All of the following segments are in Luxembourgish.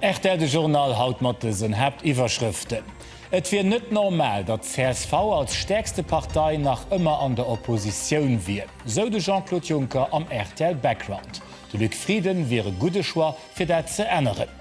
Rtl, de Journal haut mat dësen Haaptiwwerschrëften, Et wier net normal, datt csv als stäerkste Partei nach ëmmer an der Oppositioun wier, sou de Jean-Claude Juncker am Rtl Background. De Luc Frieden wier e gudde Choix, fir dat ze änneren.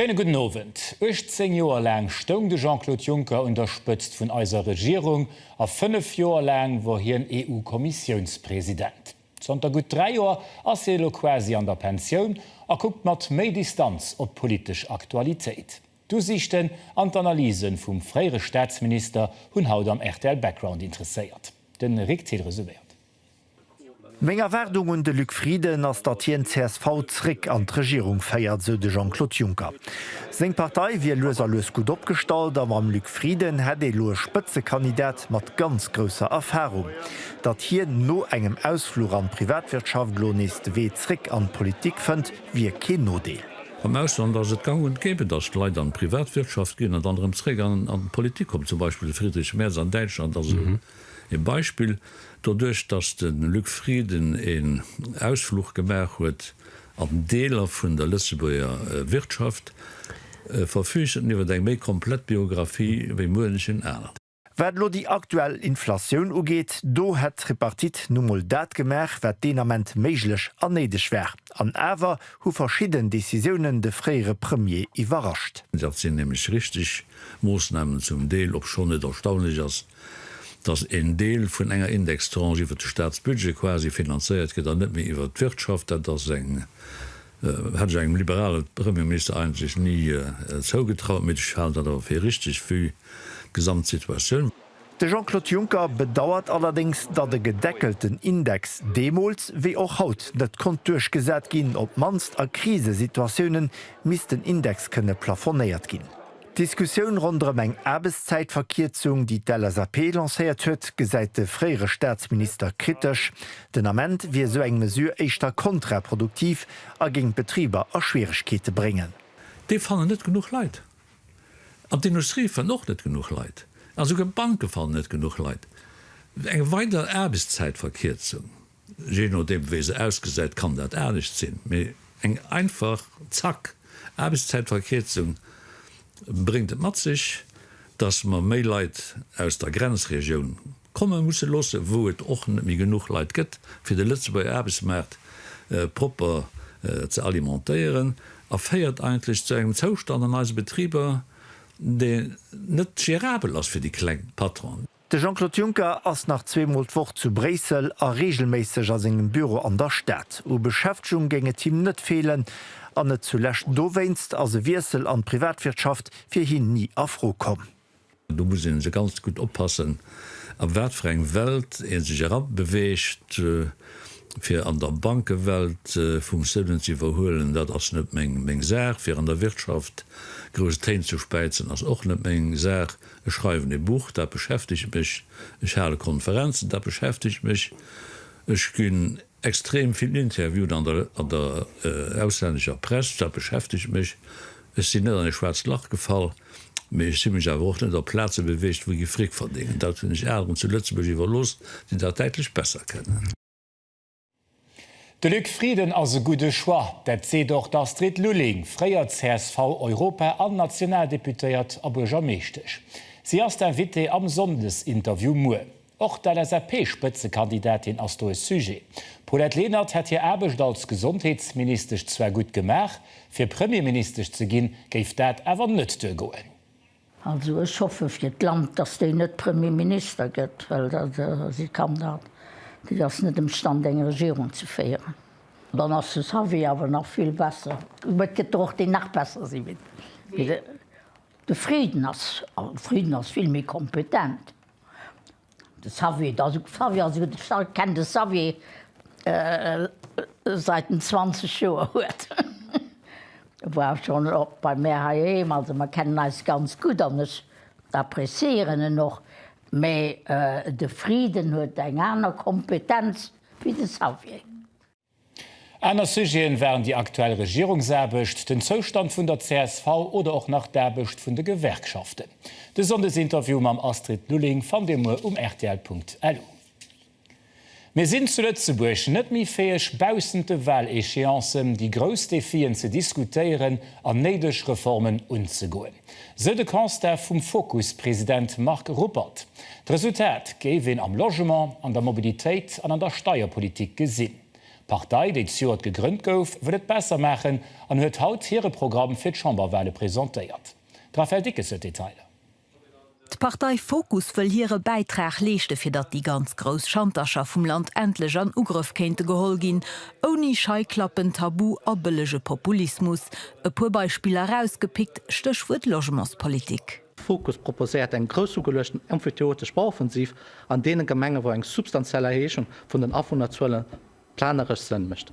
Schéine gudden Owend. 18 Joer laang stoung de Jean-Claude Juncker un der Spëtzt vun eiser Regierung a fënnef Joer laang wor hien EU-Kommissiounspresident. Zanter gutt dräi Joer ass hie elo quasi an der Pensioun a kuckt mat méi Distanz op d'politesch Aktualitéit. D'Usiichten an d'Analysen vum fréiere Staatsminister hunn haut am rtl Background interesséiert. De Rik Thill resuméiert. Meng Erwaardung un de Luc Frieden ass, datt hien csv zréck an d'Regierung féiert, sou de Jean-Claude Juncker. Seng Partei wier lues a lues gutt opgestallt a mam Luc Frieden hätt ee lo e Spëtzekandidat mat ganz grousser Erfarung. Datt hien no engem Ausfluch an d'Privatwirtschaft lo nees de Wee zréck an d'Politik fënnt, wier keen Nodeel. Am Ausland ass et gang und gäbe, datt d'Leit an d'Privatwirtschaft ginn an dann erëm zeréck an d'Politik kommen. Zum Beispill de Friedrich Merz an Däitschland ass esou ee Beispill. Doduerch, datt de Luc Frieden een Ausfluch gemaach huet an Deeler vun der Lëtzebuerger Wirtschaft, verfüügt en iwwer eng méi komplett Biographie wéi muenchen aneren. Wat elo déi aktuell Inflatioun ugeet, do hätt d'Tripartite nu mol dat gemaach, wat deen Ament méiglech a néideg war. An awer hu verschidden Decisiounen de fréiere Premier iwwerrascht. Dat sinn nämlech richteg Moossnamen zum Deel, obschonn et erstaunlech ass, datt en Deel vun enger Indextranche iwwert de Staatsbudget quasi finanzéiert gëtt an net méi iwwert d'Wirtschaft. Dat ass eng. Hätt ech engem liberale Premierminister eigentlech ni zougetraut, mee ech halen dat awer fir richteg vue d'Gesamtsituatioun. De Jean-Claude Juncker bedauert allerdéngs, datt e gedeckelten Index deemools wéi och haut net konnt duerchgesat ginn. Op d'mannst a Krisesituatiounen misst den Index kënne plafonéiert ginn. D'Diskussioun ronderëm eng Aarbechtszäitverkierzung, déi d'LSAP lancéiert huet, gesäit de fréiere Staatsminister kritesch. Den Ament wier esou eng Mesure éischter kontraproduktiv a géing d'Betriber a Schwieregkeete bréngen. Déi fannen net genuch Leit. An d'Industrie fënnt och net genuch Leit. An esouguer d'Banke fannen net genuch Leit. Eng weider Aarbechtszäitverkierzung. Jee nodeem wéi se ausgesäit kann dat anescht sinn, mee eng einfach, zack, Aarbechtszäitverkierzung bréngt et mat sech, dass mer méi Leit aus der Grenzregioun komme musse loosse, wou et och net méi genuch Leit gëtt, fir de Lëtzebuerger Aarbechtsmaart propper ze alimentéieren a féiert eigentlech zu engem Zoustand an eise Betriber, deen net gérabel ass fir déi kleng Patronen. De Jean-Claude Juncker ass nach zweemol d'Woch zu Bréissel a reegelméisseg a sengem Büro an der Stad. U Beschäftegung géing et him net feelen. An net zulescht dowéinst ass e Wiessel an d'Privatwirtschaft fir hien ni a Fro komm. Do muss ee se ganz gutt oppassen, a wat fir eng Welt ee sech erabeweegt. Fir an der Bankewelt Funktiounen ze iwwerhuelen, dat ass net meng Saach. Fir an der Wirtschaft grouss Téin ze späizen, ass och net meng Saach. Ech schreiwen e Buch, dat beschäftegt mech. Ech hale Konferenzen, dat beschäftegt mech. Ech ginn extrem vill interviewt an der an der auslännescher Press, dat beschäftegt mech. Ech sinn net an e schwaarzt Lach gefall, mee ech si mech awer och net op Plaze beweegt, wou gi Fric verdéngen. Dat hunn ech aneren zu Lëtzebuerg iwwerlooss, déi dat däitlech besser kennen. De Luc Frieden ass e gudde Choix. Dat seet och d'Astrid Lulling, fréier CSV-Europa an Nationaldeputéiert a Buergermeeschtesch. Si ass d'Invitée am Sonndesinterview muer. Och d'LSAP-Spëtzekandidatin ass do e Sujet. D'Paulette Lenert hätt hir Aarbecht als Gesondheetsministesch zwar gutt gemaach, fir Premierministesch ze ginn, géif dat awer net duergoen. Also ech hoffe fir d'Land, datt déi net Premier Minister gëtt, well si kann dat, déi ass net emstand eng Regierung ze féieren. Dann ass de Xavier awer nach vill besser, mä et gëtt der och déi nach besser si wéi de. De Frieden ass, de Frieden ass vill méi kompetent. De Xavier, da so Xavier, also de Charles kennt de Xavier seit en 20 Joer huet. E war schon och bei mär heiheem, also mer kennen eis ganz gutt an ech apprécieieren en och. Mä de Frieden huet eng aner Kompetenz wéi de Xavier. Aner Sujeten waren déi aktuell Regierungsaarbecht, den Zoustand vun der csv oder och nach d'Aarbecht vun de Gewerkschaften. De Sonndesinterview mam Astrid Lulling fannt Dir muer um rtl.lu. Mir sinn zu Lëtzebuerg net méi fäeg, baussent de Wahléchéancen déi grouss Defien ze diskutéieren an néideg Reformen unzegoen. sou de Constat vum Fokus-President Marc Ruppert. D'Resultat géif een am Logement, an der Mobilitéit an an der Steierpolitik gesinn. D'Partei, déi zejoert gegrënnt gouf, wëll et besser maachen an huet haut hire Programm fir d'Chamberwale presentéiert. D'Raphaëlle Dickes huet d'Detailer. D'Partei Fokus wëll hire Bäitrag leeschte fir datt déi ganz grouss Schantercher vum Land endlech an Ugrëff kéinte geholl ginn, ouni Scheiklappen, Tabu a bëllege Populismus. E puer Beispiller erausgepickt, Stéchwuert Logementspolitik. Fokus proposéiert eng groussugeluechten emphyteotesch Bauoffensiv an deene Gemenge wou eng substantiell Erhéichung vun den Awunnerzuele planeresch Sënn mécht.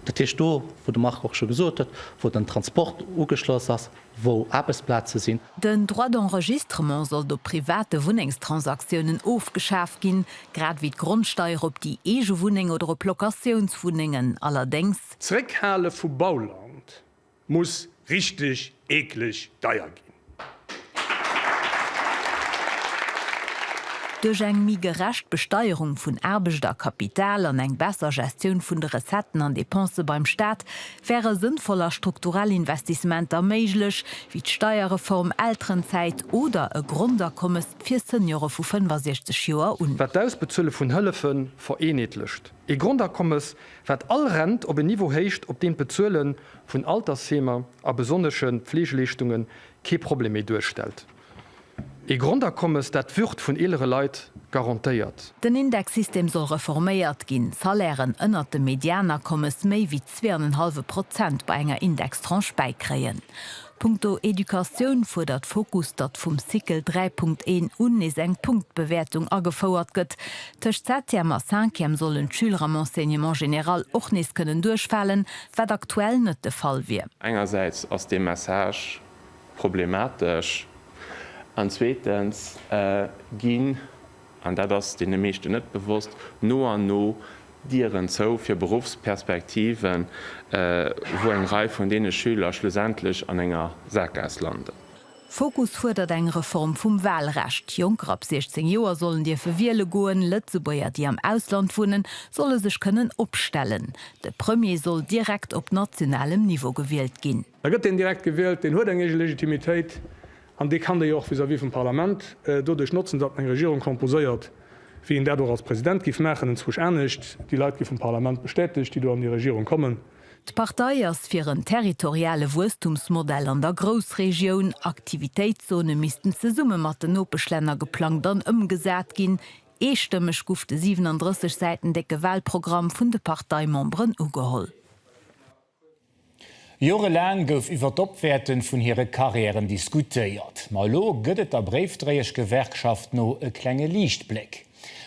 Dat heescht do, wou de Marc och scho gesot huet, wou den Transport ugeschloss ass, wou Aarbechtsplaze sinn. Den Droit d'enregistrement sollt op private Wunnengstransaktiounen ofgeschaf ginn, grad ewéi d'Grondsteier op déi eege Wunneng oder op Locatiounswunnengen. Allerdéngs. Zréckhale vu Bauland. Muss richteg eekleg deier ginn. Duerch eng méi gerecht Besteierung vun Aarbecht a Kapital an eng besser Gestioun vun de Recetten an Depensë beim Staat wäre sënnvoll a strukturell Investissementer méiglech, wéi d'Steierreform, Elterenzäit oder e Grondakommes fir Seniore vu 65 Joer un. Wat d'Ausbezuele vun Hëllefe vereenheetlecht, Ee Grondakommes, wat all Rent op en Niveau héicht, op deem d'Bezuele vun Altersheemer a besonnesche Pfleegeleeschtunge kee Problem méi duerstellt. Ee Grondakommes, dat d'Würd vun eelere Leit garantéiert. Den Indexsystem soll reforméiert ginn. Salairen ënnert dem Medianakommes méi wéi zwee an en hallwe Prozent bei enger Indextranche bäikréien. Punkto Educatioun fuerdert Fokus, datt vum Cycle 3.1 un nees eng Punktbewäertung agefouert gëtt. Tëscht Septième a Cinquième sollen d'Schüler am Enseignement général och nees kënnen duerchfalen, wat aktuell net de Fall wier. Engersäits ass dee Message problematesch an zweetens ginn an dat ass deene meeschten net bewosst, no an no Dieren zou fir Beruffsperspektiven, wou eng Rei vun deene Schüler schlussendlech an enger Saakgaass landen. Fokus fuerdert eng Reform vum Walrecht. Jonker ab 16 Joer sollen dierfe wiele goen. Lëtzebuerger, déi am Ausland wunnen, solle sech kënnen opstellen. De Premier soll direkt op nationalem Niveau gewielt ginn. Da gëtt deen direkt gewielt, deen huet eng eege Legitimitéit an dee kann déi jo och vis-à-vis vum Parlament doduerch notzen, datt en eng Regierung composéiert, wéi een dat och als President giff maachen, enzwousch anescht. Déi Leit gi vum Parlament bestätegt, déi do an déi Regierung kommen. D'Partei ass fir en territoriale Wuesstumsmodell an der Groussregioun. Aktivitéitszone missten zesumme mat den Nopeschlänner geplangt an ëmgesat ginn. Eestëmmeg guff de 37 Säiten décke Wahlprogramm vun de Parteimemberen ugeholl. Jorelaang gouf iwwer d'Opwäerten vun hire Karriären diskutéiert. Ma elo gëtt et der Bréifdréieschgewerkschaft no e klenge Liichtbléck.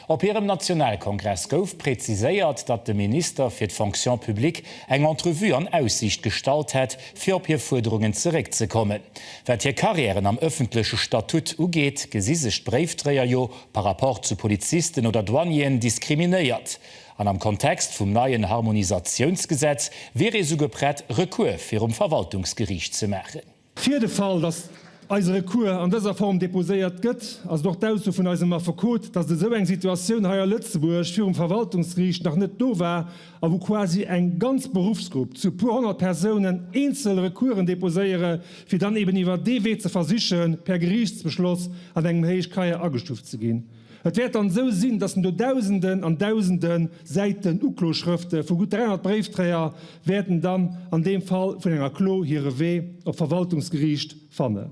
Op hirem Nationalkongress gouf präziséiert, datt de Minister fir d'Fonction publique eng Entrevue an Aussiicht gestallt hätt, fir op hir Fuerderungen zeréckzekommen. Wat hir Karriären am ëffentleche Statut ugeet, gesi sech d'Bréifdréier jo par rapport zu Polizisten oder Douanieren diskriminéiert. An am Kontext vum neien Harmonisatiounsgesetz wier ee souguer prett, Recours virum Verwaltungsgeriicht ze maachen. Fir de Fall, datt eise Recours an dëser Form deposéiert gëtt, ass et och d'Ausso vun eisem Affekot, datt esou eng Situatioun hei a Lëtzebuerg virum Verwaltungsgeriicht nach net do war a wou quasi eng ganz Beruffsgrupp zu e puer honnert Persounen eenzel Recoursen deposéiere fir dann eben iwwer dee Wee ze versichen, per Geriichtsbeschloss an engem Héichkeier agestuft ze ginn. Et wäert dann esou sinn, datt en do Dausenden an Dausende Säiten Ukloschrëfte vu gutt 300 Bréifdréier wäerten dann an deem Fall vun enger Klo hire Wee op d'Verwaltungsgeriicht fannen.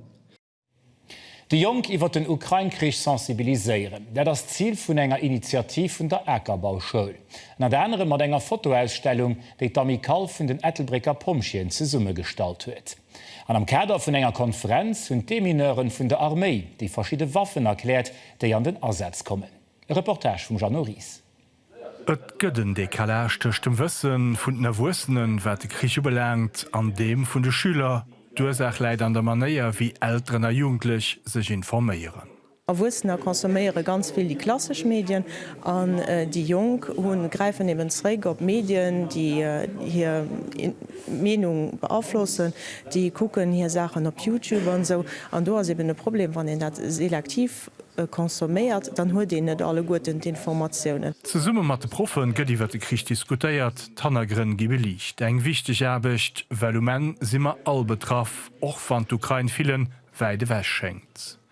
Déi Jonk iwwer den Ukrain-Krich sensibiliséieren, dat ass d'Zil vun enger Initiativ vun der Akerbauschoul. Ënnert anerem mat enger Fotoausstellung, déi d'Amicale vun den Ettelbrécker Pompjeeën zesummegestallt huet. An am Kader vun enger Konferenz hunn d'Demineuren vun der Arméi déi verschidde Waffen erkläert, déi an den Asaz kommen. E Reportage vum Jeannot Ries. Et gëtt en Decalage tëscht dem Wësse vun den Erwuessenen, wat de Krich ubelaangt, an deem vun de Schüler. D'Ursaach läit an der Manéier, wéi Elteren a Jugendlech sech informéieren. Erwuessener consomméiere ganz vill déi klassesch Medien an déi Jonk hunn, gräifen eben zréck op Medien, déi hir Meenung beaflossen, déi kucken hir Saachen op Youtube an esou. An do ass eben e Problem, wann een dat selektiv consomméiert, dann huet een net alleguerten d'Informatiounen. Zesumme mat de Proffe gëtt iwwer de Krich diskutéiert, d'Hannergrënn gi beliicht. Eng wichteg Aarbecht, well um Enn si mer all betraff, och wann d'Ukrain villen wäit ewech schéngt.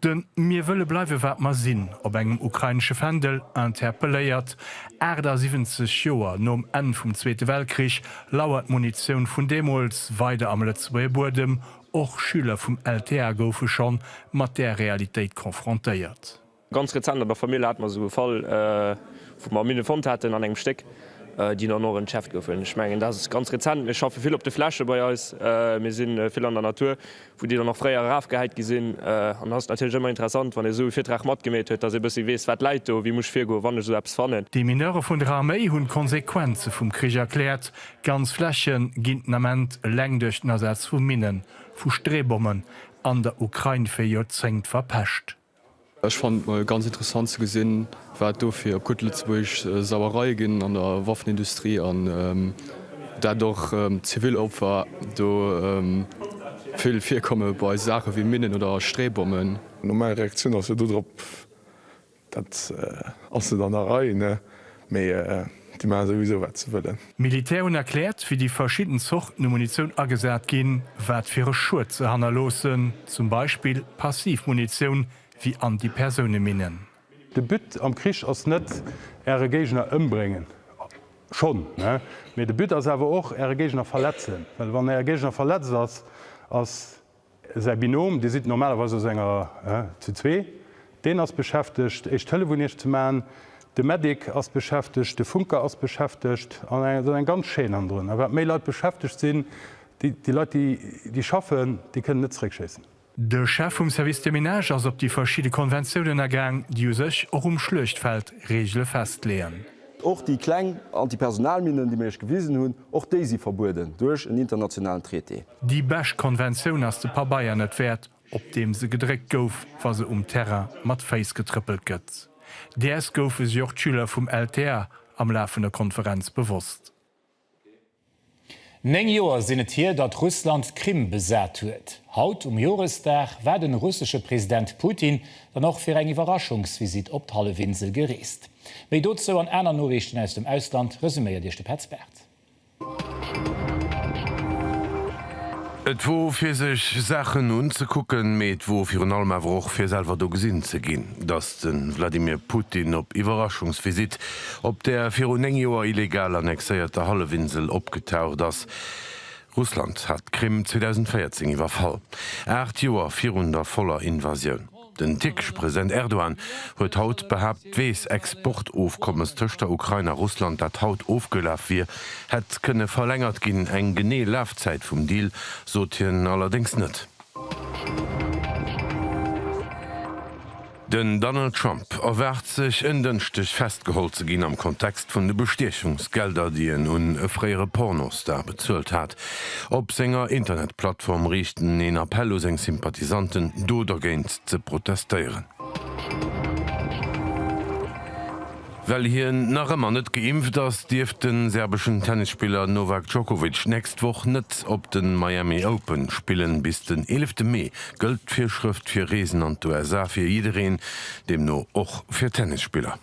De Mir wëlle bleiwe wat mer sinn op engem ukrainesche Fändel interpelléiert. 78 Joer nom Enn vum Zweete Weltkrich lauert d'Munitioun vun deemools weider am Lëtzebuerger Buedem. Och Schüler vum LTA goufe schonn mat där Realitéit konfrontéiert. Ganz rezent an der Famill hate mer esou e Fall, wou mer Minne fonnt haten an engem Stéck, déi dann och entschärft goufen. Ech mengen, dat ass ganz rezent. Mir schaffe vill op de Fläche bei eis. Mir si vill an der Natur. wou déi dann och fréier erafgehäit gi sinn. An dann ass et natierlech ëmmer interessant, wann ee esou e Virtrag matgemeet huet, dass ee e bëssi weess, wat läit do, wéi muss ech virgoen, wann ech esou eppes fannen. D'Demineure vun der Arméi hunn d'Konsequenze vum Krich erkläert, Ganz Fläche ginn den Ament eleng duerch den Asaz vu Minnen, vu Streebommen an der Ukrain fir Joerzéngt verpescht. Ech fannen et mol ganz interessant ze gesinn wat do fir op gutt Lëtzebuergesch Sauereie ginn an der Waffenindustrie an dat och zivil Opfer do vill virkomme bei Saache wéi Minnen oder Streebommen. Normal Reaktioun ass jo dodrop, dat ass net an der Rei ne. Mee déi maache souwisou wat se wëllen. D'Militär hunn erkläert, wéi déi verschidden Zorten u Munitioun agesat ginn, wat fir e Schued se hannerloossen, zum Beispill passiv Munitioun wéi Antipersouneminnen. De But am Krich ass net Äre Géigner ëmbréngen, schonn, mee de But ass awer och Äre Géigner verletzen, well wann Äre Géigner verletzt ass, ass. Säi Binom, Dir sidd normalerweis aus enger, zu zwee, deen ass beschäftegt, Éischt Hëllef un Iech ze maachen. De Medic ass beschäftegt, de Funker ass beschäftegt. An et ass eng ganz Chaîne hannendrun. A wat méi Leit beschäftegt sinn, déi Leit, déi schaffen, déi kënnen net zeréckschéissen. De Chef vum Service de Ménage ass op déi verschidde Konventiounen agaang, déi u sech och um Schluechtfeld Reegele festleeën. Och déi kleng Antipersonalminnen, déi mir Iech gewisen hunn, Och déi si verbueden duerch en internationalen Traité. Déi besch Konventioun ass de Pabeier net wäert, op deem se gedréckt gouf, wa se um Terrain mat Féiss getrëppelt gëtt. Däers goufe si och d'Schüler vum LTA am Laf vun der Konferenz bewosst. Néng Joer sinn et hier, datt Russland d'Krim besat huet. Haut um Joresdag war den russesche President Putin dann och fir eng Iwwerraschungsvisitt op d'Hallefinsel gereest. Méi dozou an aner Noriichten aus dem Ausland resuméiert Iech de Petz Barth. Et wor fir sech Saachen unzekucken, mee et wor virun allem awer och fir selwer do gesinn ze ginn, datt de Vladimir Putin op Iwwerraschungsvisitt op der viru 9 Joer illegal annexéierter Hallefinsel opgetaucht ass. Russland hat d'Krim 2014 iwwerfall, 8 Joer virun der voller Invasioun. Den tierkesche President Erdogan huet haut behaapt, d'Weess-Exportofkommes tëscht der Ukrain a Russland, dat haut ofgelaf wier, hätt kënne verlängert ginn. Eng genee Lafzäit vum Deal sot hien allerdéngs net. Den Donald Trump erwaart sech en Dënschdeg festgeholl ze ginn am Kontext vun de Bestiechungsgelder, déi en un e fréiere Pornostar bezuelt hat. Op senger Internetplattform riicht en een Appell u seng Sympathisanten, do dergéint ze protestéieren. Well hien nach ëmmer net geimpft ass, dierft de serbeschen Tennisspiller Novak Djokovic d'nächst Woch net op de Miami Open spillen. Bis den eelefte Mee gëllt d'Virschrëft fir Reesen an d'USA fir jiddereen, deemno och fir Tennisspiller.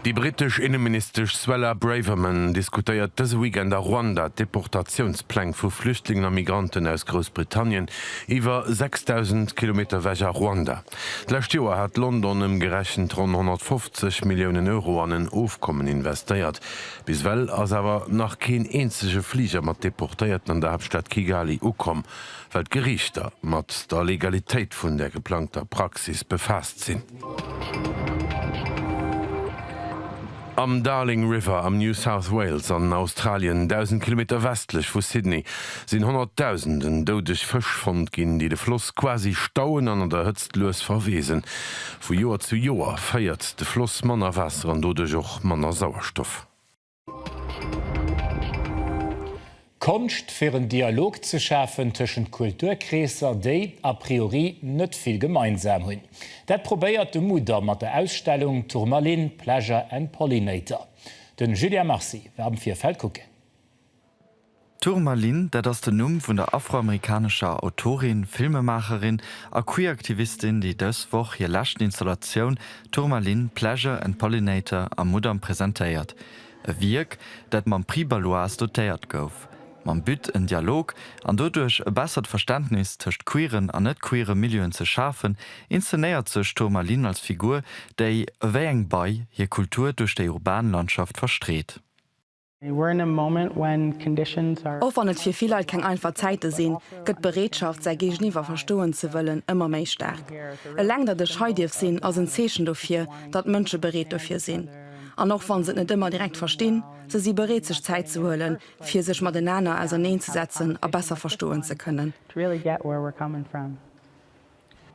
Déi brittesch Inneministesch Suella Braverman diskutéiert dëse Weekend a Ruanda d'Deportatiounspläng vu Flüchtlingen a Migranten aus Groussbritannien iwwer 6.000 Kilometer ewech a Ruanda. D'lescht Joer hat London ëmgerechent ronn 150 Milliounen Euro an en Ofkommen investéiert. Bis ewell ass awer nach keen eenzege Fliger mat Deportéierten an der Haaptstad Kigali ukomm. well d'Geriichter mat der Legalitéit vun der geplangter Praxis befaasst sinn. Am Darling River am New South Wales an Australien, 1.000 Kilometer westlech vu Sydney, sinn honnertdausenden doudeg Fësch fonnt ginn, déi de Floss quasi stauen an an der Hëtzt lues verweesen. Vu Joer zu Joer féiert de Floss manner Waasser an doduerch och manner Sauerstoff. Konscht fir en Dialog ze schafen tëschent Kulturkreesser, déi a priori net vill gemeinsam hunn. Dat probéiert de Mudam mat der Ausstellung Tourmaline, Pleasure and Pollinator. De Julien Marcy war am Virfeld kucken. Tourmaline, dat ass den Numm vun der afroamerikanescher Autorin, Filmemaacherin a Queeraktivistin, déi dës Woch hir leschten Installatioun Tourmaline, Pleasure and Pollinator am Mudam presentéiert. E Wierk, dat mam Prix Baloise dotéiert gouf. Mam But, en Dialog an doduerch e bessert Verständnis tëscht queeren an net-queere Milieuen ze schafen, inszenéiert sech d'Tourmaline als Figur, déi, ewéi eng Bei, hir Kultur duerch déi urban Landschaft verstreet. Och wann et fir vill Leit keng einfach Zäite sinn, gëtt d'Bereetschaft, säi Géigeniwwer verstoen ze wëllen, ëmmer méi staark. Eleng datt ech hei dierf sinn, ass en Zeechen dofir, datt Mënsche bereet dofir sinn. An och wann se et net ëmmer direkt verstinn, se si bereet sech Zäit ze huelen, fir sech matenaner auserneen ze setzen a besser verstoen ze kënnen.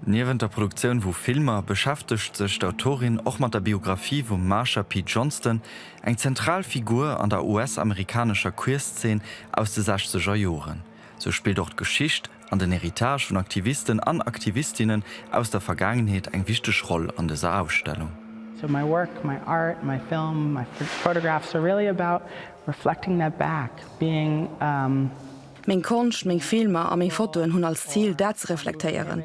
Niewent der Produktioun vu Filmer beschäftegt sech d'Autorin och mat der Biographie vum Marsha P. Johnston, eng zentral Figur an der US-amerikanescher Queerzeen aus de sechzeger Joren. Sou spillt och d'Geschicht an den Heritage vun Aktivisten an Aktivistinnen aus der Vergaangenheet eng wichteg Roll an dëser Ausstellung. So my work, my art, my film, my photographs are really about reflecting that back, being. Meng Konscht, meng Filmer a meng Fotoen hunn als Zil, dat ze reflektéieren.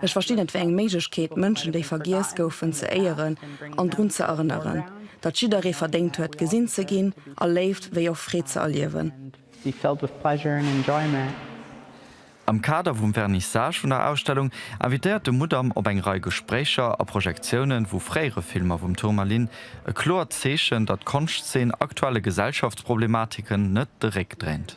Ech verstinn et wéi eng Méiglechkeet, Mënschen, déi vergiess goufen, ze éieren an drun ze erënneren, datt jidderee verdéngt huet, gesinn ze ginn a Léift wéi och Freed ze erliewen. Am Kader vum Vernissage vun der Ausstellung invitéiert de Mudam op eng Rei Gespréicher a Projektiounen vu fréiere Filmer vum Tourmalin, e kloert Zeechen, datt d'Konschtzeen aktuelle Gesellschaftsproblematiken net de Réck dréint.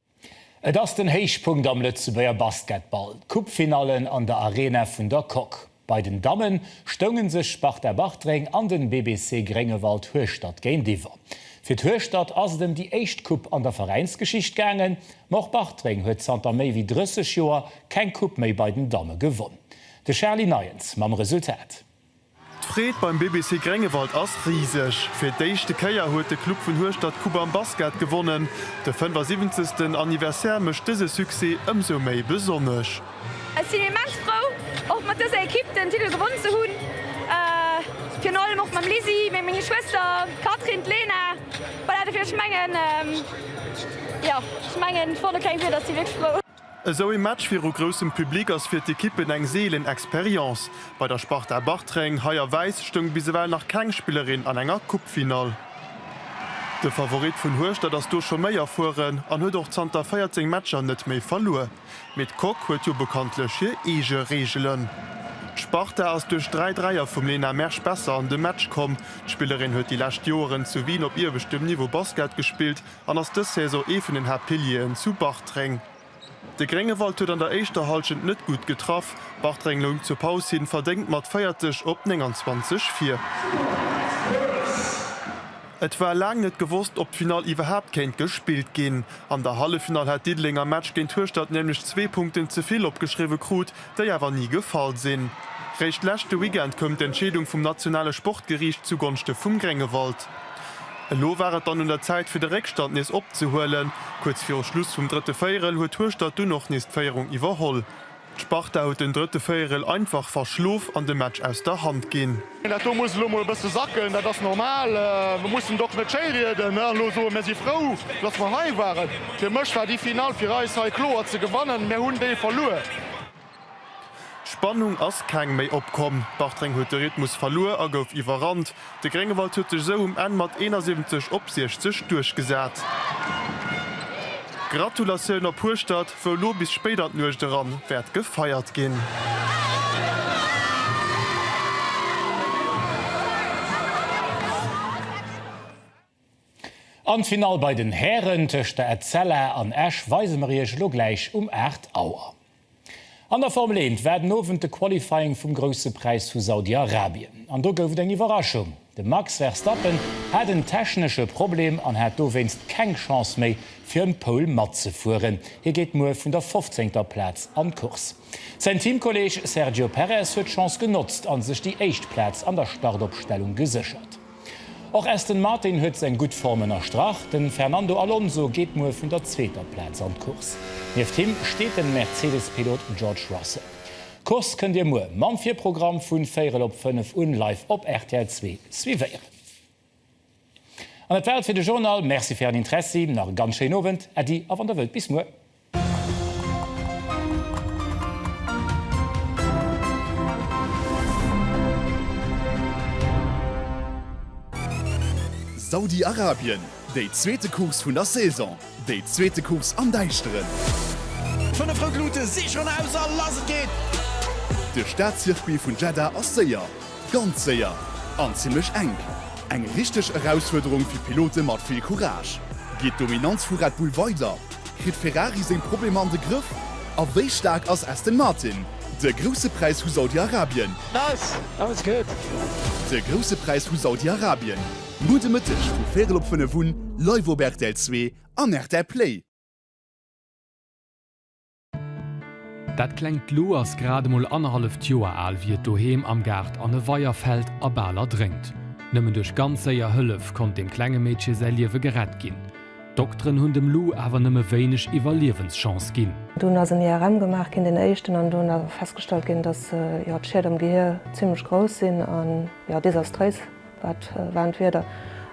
Et ass den Héichpunkt am Lëtzebuerger Basketball, d'Coupe-Finallen an der Arena vun der Coque. Bei den Damme stounge sech Sparta Bartreng an den BBC Gréngewald Hueschtert géintiwwer. Fir d'Hueschtert ass et ëm déi éischt Coupe an der Veräinsgeschicht gaangen. Ma och Bartreng huet zanter méi wéi 30 Joer keng Coupe méi bei den Damme gewonn. De Charly Neiens mam Resultat. D'Freed beim BBC Gréngewald ass riseg. Fir d'éischte Kéier huet de Club vun Hueschtert d'Coupe am Basket gewonnen. De 75. Anniversaire mécht dëse Succès ëmsou méi besonnesch. Ech sinn immens frou, och mat dëser Ekipp den Titel gewonn ze hunn. Virun allem och mam Lisi, meng meng Schwëster, d'Catherine, d'Lena, voilà, dofir, ech mengen, jo, ech mengen, ech brauch do keng Wierder, ech si wierklech frou. Esou ee Match viru groussem Public ass fir d'Ekippen eng seelen Experience. Bei der Sparta Bartreng, hei a Wäiss, stoung bis ewell nach keng Spillerin an enger Coupefinall. De Favorit vun Hueschtert ass do scho méi erfueren an huet och zanter 14 Matcher net méi verluer. Mee d'Coque huet jo bekanntlech hir eege Reegelen. D'Sparta ass duerch dräi Dräier vum Lena Mersch besser an de Match komm. D'Spillerin huet déi lescht Joeren zu Wien op iewechtem Niveau Basket gespillt an ass dës Saison ee vun den Haaptpilieren zu Bartreng. De Gréngewald huet an der éischter Hallschent net gutt getraff, Bartreng loung zur Paus hin verdéngt mat 40 op 29 vir. Et war laang net gewosst, ob d'Finall iwwerhaapt kéint gespillt ginn. An der Halleffinall hat Diddeleng am Match géint Hueschtert nämlech zwee Punkten ze vill opgeschriwwe krut, déi awer ni gefall sinn. Réischt leschte Weekend koum d'Entscheedung vum nationale Sportgeriicht zugonschte vum Gréngewald. Elo war et dann un der Zäit fir de Réckstand nees opzehuelen. Kuerz viru Schluss vum drëtte Véierel huet Hueschtert dunn och nees d'Féierung iwwerholl. D'Sparta huet den drëtte Véierel einfach verschlof an de Match aus der Hand ginn. Dat do muss elo mol e bësse sacken. Dat ass normal. Mir mussen d'Ok net schéirieden an elo soen, mir si frou, datt mer hei waren. Fir mech war déi Finall fir eis hei kloer ze gewannen. Mir hunn déi verluer. Spannung ass keng méi opkomm. Bartreng huet de Rhythmus verluer a gouf iwwerrannt. De Gréngewald huet sech esou um Enn mat 71 op 60 duerchgesat. Gratulatioun op Hueschtert! wou elo bis spéit an d'Nuecht eran wäert gefeiert ginn. An d'Finall bei den Hären tëscht der Etzella an Esch weise mer Iech elo gläich um 8 Auer. An der Formel 1 war den Owend de Qualifying vum Grousse Präis vu Saudi-Arabien. An do gouf et eng Iwwerraschung. De Max Verstappen hat en technesche Problem an hat dowéinst keng Chance méi fir ëm d'Pole matzefueren. Hie geet muer vun der fofzéngter Plaz an d'Course. Säin Teamkolleeg Sergio Perez huet d'Chance genotzt a sech déi éischt Plaz an der Startopstellung geséchert. Och Aston Martin huet seng gutt Form ënnerstrach. De Fernando Alonso geet muer vun der zweeter Plaz an d'Course. Nieft him steet de Mercedes-Pilot George Russell. D'Course kënnt Dir muer mam Virprogramm vun véirel op fënnef un live op rtl zwee suivéieren. An dat war et fir de Journal. Merci fir Ären Interessi. Nach e ganz schéinen Owend. Äddi a wann Der wëllt bis muer. Saudi-Arabien, Déi zweete Course vun der Saison, déi zweete Course am Däischteren. Fënnef rout Lute si schonn aus a lass et geet! De Staatcircuit vun Jeddah ass séier, ganz séier an zimmlech enk. Eng richteg Erausfuerderung fir d'Pilote mat vill Courage. Geet d'Dominanz vu Red Bull weider? Kritt Ferrari seng Problemer an de Grëff? A wéi staark ass Aston Martin? De Grousse Präis vu Saudi-Arabien. Nice! Aus et geet! De Grousse Präis vu Saudi-Arabien, Gudde Mëtteg vu véirel op fënnef un, live op rtl zwee an rtl Play. Dat klengt Lou ass grad emol annerhalleft Joer al, wéi et doheem am Gaart an e Weier fält a bal erdrénkt. Nëmmen duerch ganz séier Hëllef konnt dem klenge Meedche säi Liewe gerett ginn. D'Dokteren hunn dem Lou awer nëmme wéineg Iwwerliewenschance ginn. Dunn ass en IRM gemaach ginn, deen éischten, an do ass festgestallt ginn, dass jo d'Schied am Gehier zimmlech grouss sinn a jo desastréis. Wat waren d'Wierder?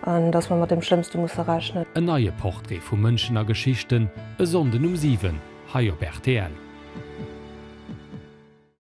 An dass mer mat deem Schlëmmste musse rechnen. En neie Portrait vu Mënschen a Geschichten, e Sonnden um 7 hei op rtl.